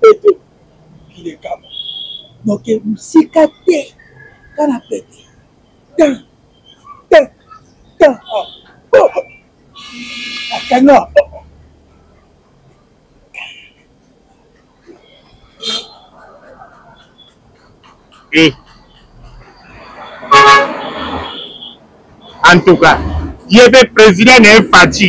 Pete mokili ekaba noke mosika te ka na pete tin tin tin akanga eh. en tout cas ye mpe président na ye faci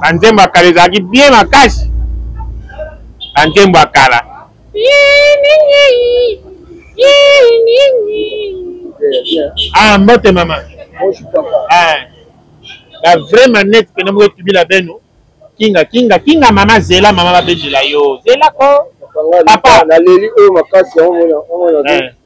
banzembo ya kala ezalaki bien makasi banzembo ya kala ah mbote mama ah, la vraie manette pena moko etubila beno kinga kinga kinga mama zela mama babendela yo zela ko papa naleli oyo makasi yango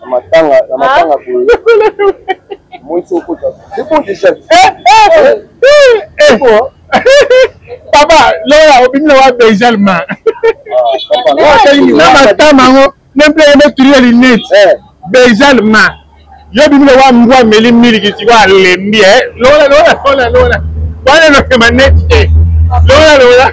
Na matanga, na matanga boye. Moi so kota. C'est bon déjà. Eh eh. Eh bon. Papa, lola obimi na wa Benjal ma. Na matama ngo, nempe yeme tulia linete. Benjal ma. Yo bimi na wa mbwa meli miliki siko alembi eh. Lola lola lola lola. Wana no manete. Lola lola.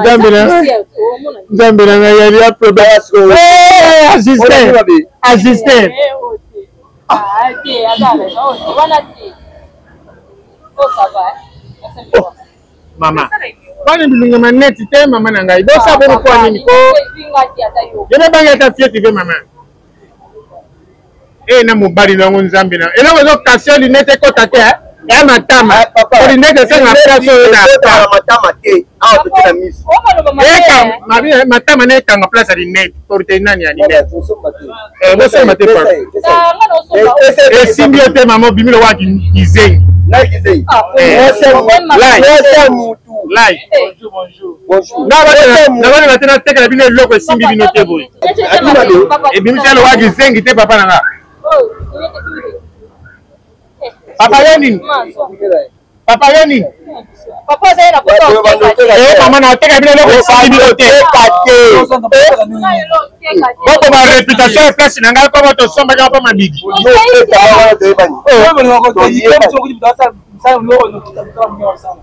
nzambe na nzambe na ngai yali ya problème ajuster ajuster mama bana bilunga maneti te mama na ngai bosa bonokoa nini ko yebe bangi ata fieti ve mama eye na mobali na yango nzambe na eloko ezo kase linete ekota te eh? ya matama eh, olinete esanga place oyo na matama te awa toke na miso matama na ekanga place ya linete porte nani ya linete bosomba te esimbi yo te mama obimilo wa kizengi live nabani bate natekela bino eloko esimbi bino te boye ebimisi alowa kizengi te papa na nga papa yo nini papa yo nini eh, mama nateka bino eloko esimbi bino te bokoma reputation ya place na ngai mpo botosombaki mpo mabidi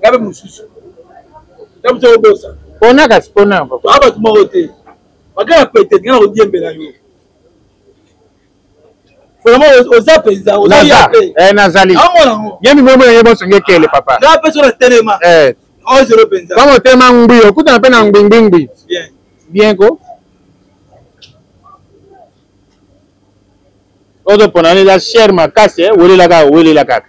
ngabe mosusu tabuta obosa pona kasi pona yango toa bato moko te bakala pete nga na kodiembela yo vraiment oza mpenza ozazali ye mimemo na ye bonso nge kele papa nga mpe so na telema eh. ozelo mpenza kama otema ngbi okutana mpe na ngbingbingbi bien ko ozopona neza chere makasi eh, welela kaka welela kaka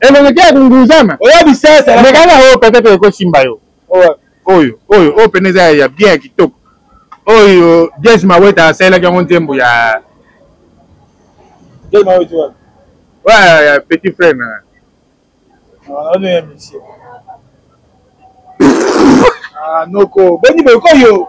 elongi te ya kunguzama oya bisasa mekana oyo peut-être ekosimba yo oyo oyo oyo pene eza ya bien ya kitoko oyo jes maweta asalelaki yango nzembo ya ya petit frère na ah, ah, noko boni bokoyo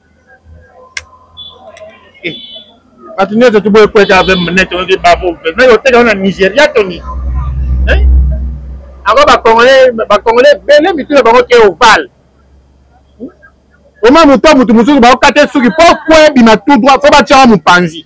eh, bato nyonso toboyi kweka ave nete oyoki babo me oteka wana nigeria toni eh? yango bacongolais bacongolais ebele mitu na bango ke ovale oma moto ya moto mosusu bakokata suki mpo kwe ebima tout droit mpo batyaka mopanzi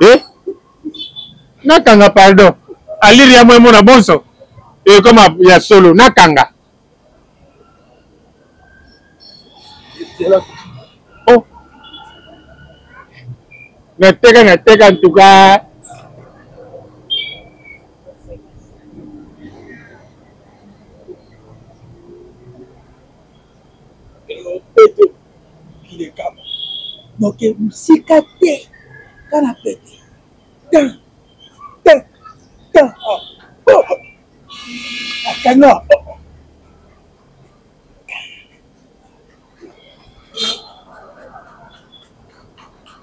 eh nakanga pardon aliri ya mwemona bonso ekoma eh, ya solo nakanga oh nateka nateka ntuka mokili ekama donc mosika te kana pete tan tan tan akanga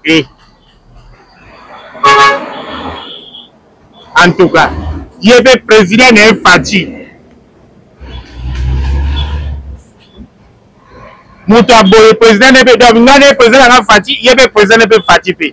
Eh. En tout cas, ye pe president na ye Fatshi. Moto ya boye president na ye pe donc ngai na ye president na ngai Fatshi, ye pe president na ye pe Fatshi pe.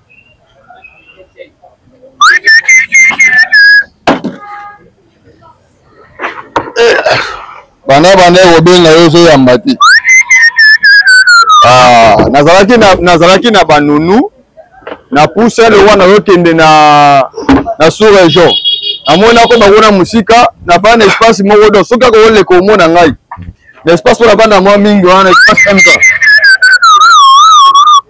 banda banda ekobenga yo ozoyamba te ah, nazalaki na nazalaki na banunu na pousa lowa nazokende na na sous région namoni nakoma kuna mosika nafaa na espace moko don soki akokoleka omona ngai na espace oyo nafanda mwa mingi wana espace mka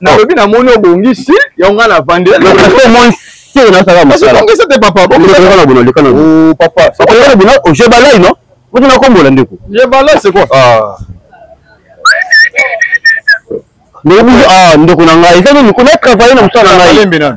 nalobi na moni obongi si yango nga na vandi sio nasaka mosala ongesa te papa bokaka na bono lekana o papa okoleka na bono oje balai no bozo na kombola ndeko je balai c'est quoi ah ndeko ah ndeko na ngai eza nini kuna travailler na mosala na ngai